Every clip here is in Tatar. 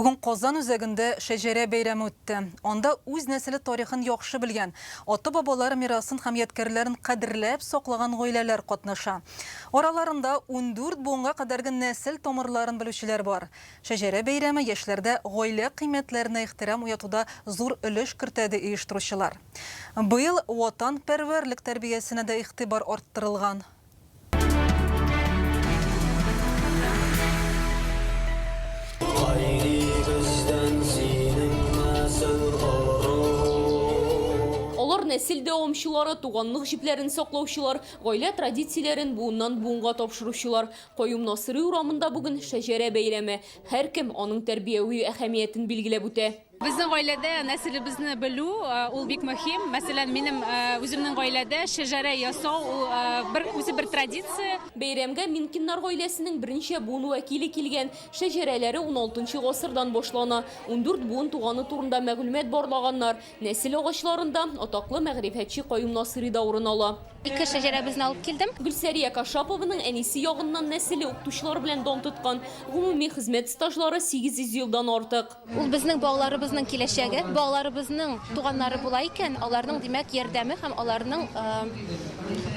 Бүген Казан үзәгендә Шәҗәрә бәйрәме үтте. Анда үз нәселе тарихын яхшы белгән, ата-бабалар мирасын һәм ядкәрләрен кадерләп саклаган гаиләләр катнаша. Араларында ундүрт буынга кадәрге нәсел тамырларын белүчеләр бар. Шәҗәрә бәйрәме яшьләрдә гаилә кыйммәтләренә ихтирам уятуда зур өлеш кертә, ди оештыручылар. Быел ватанпәрвәрлек тәрбиясенә дә игътибар арттырылган. нәсел дәвамчылары, туганлык җипләрен саклаучылар, гаилә традицияләрен буыннан буынга тапшыручылар. Каюм Насыйри урамында бүген шәҗәрә бәйрәме. Һәркем аның тәрбияви әһәмиятен билгеләп үтә. Безнең гаиләдә нәселебезне белү ул бик мөһим. Мәсәлән, минем үземнең гаиләдә шәҗәрә ясау ул бер үзе бер традиция. Бәйрәмгә Минкиннар гаиләсенең берничә буын вәкиле килгән. Шәҗәрәләре уналтынчы гасырдан башлана. Ундүрт буын туганы турында мәгълүмат барлаганнар. Нәсел агачларында атаклы мәгърифәтче Каюм Насыйри да урын ала. Ике шәҗәрәбезне алып килдем. Гөлсәрия Кашапованың әнисе ягыннан нәселе укытучылар белән дан тоткан. Гомуми хезмәт стажлары сигез йөз елдан артык. Ул безнең балаларыбызның киләчәге. Балаларыбызның туганнары була икән, аларның, димәк, ярдәме һәм аларның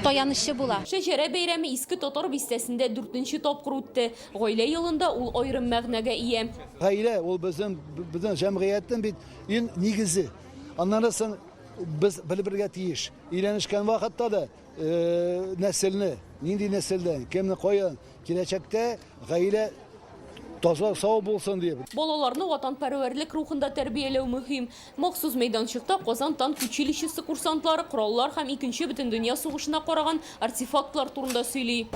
таянычы була. Шәҗәрә бәйрәме Иске Татар бистәсендә дүртенче тапкыр үтте. Гаилә елында ул аерым мәгънәгә ия. Гаилә, ул безнең, безнең җәмгыятьнең бит иң нигезе. Аннан соң без белеп белергә тиеш, өйләнешкән вакытта да, нәселне, нинди нәселдән, кемне каян, киләчәктә гаилә таза, сау булсын дип. Балаларны ватанпәрвәрлек рухында тәрбияләү мөһим. Махсус мәйданчыкта Казан танк училищесы курсантлары кораллар һәм Икенче бөтендөнья сугышына караган артефактлар турында сөйли.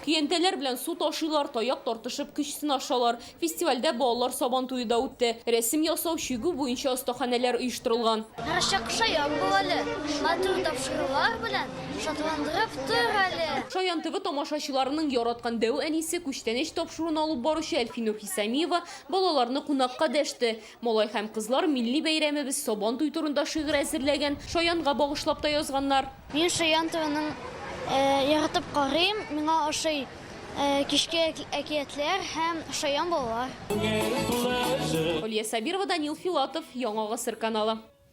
Көянтәләр белән су ташыйлар, таяк тартышып көч сынашалар. Фестивальдә балалар сабан туе да үтте. Рәсем ясау, чигү буенча остаханәләр оештырылган. Рычаг шаян бул әле, матур тапшырулар белән шатландырып тор әле! Шаян ТВ тамашачыларының яраткан дәү әнисе, күчтәнәч тапшыруын алып баручы Әлфинур Хисамиева балаларны кунакка дәште. Малай һәм кызлар милли бәйрәмебез Сабан туй турында шигырь әзерләгән, Шаянга багышлап та язганнар. Мин Шаян туенын яратып карыйм, миңа ошый кичке әкиятләр һәм Шаян балалар. Алия Сабирова, Данил Филатов, Яңа гасыр каналы.